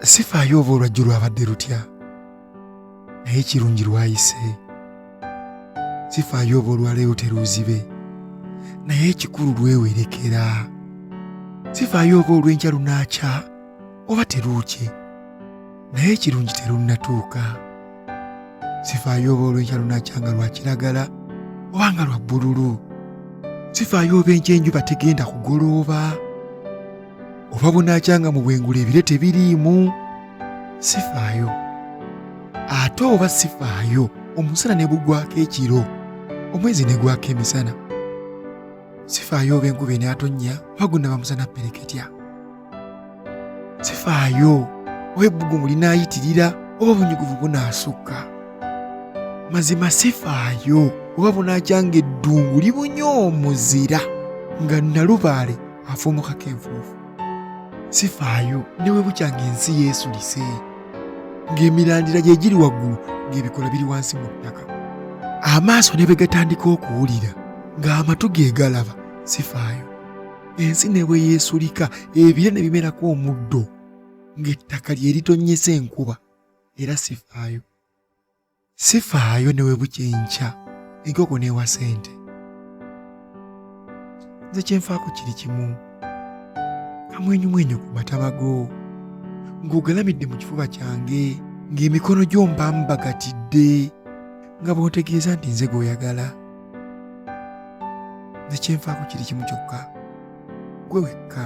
sifaayo oba olwajjo lwabadde lutya naye ekirungi lwayise sifaayo oba olwaleero teruuzibe naye ekikulu lwewerekera sifaayo oba olw'enkya lunaakya oba teruukye naye ekirungi terunnatuuka sifaayo oba olw'enkya lunaakya nga lwa kiragala oba nga lwa bbululu sifaayo oba enkya enjuba tegenda kugolooba oba bunaakyanga mu bwengula ebire tebiriimu sifaayo ate oba sifaayo omusana ne gugwako ekiro omwezi ne gwako emisana sifaayo oba enkuba enaatonnya oba gunaba musana pereketya sifaayo oba ebbugumu linaayitirira oba obunyuguvu bunaasukka mazima sifaayo oba bunaakyanga eddungu libunye omuzira nga nalubaale afuumukako enfuufu sifaayo ne bwe bukya ng'ensi yeesulise ng'emirandira gye giri waggulu ng'ebikola biri wansi mu ttaka amaaso ne bwe gatandika okuwulira ng'amatu ge galaba sifaayo ensi ne bwe yeesulika ebire ne bimerako omuddo ng'ettaka lye litonnyesa enkuba era sifaayo sifaayo ne bwe bukya enkya enkoko n'ewa sente nze kyenfaako kiri kimu kamwenyumwenyu ku matama go ng'ogalamidde mu kifuba kyange ng'emikono gyomba mbagatidde nga bw'otegeeza nti nze gw'oyagala nze kyenfaako kiri kimu kyokka gwe wekka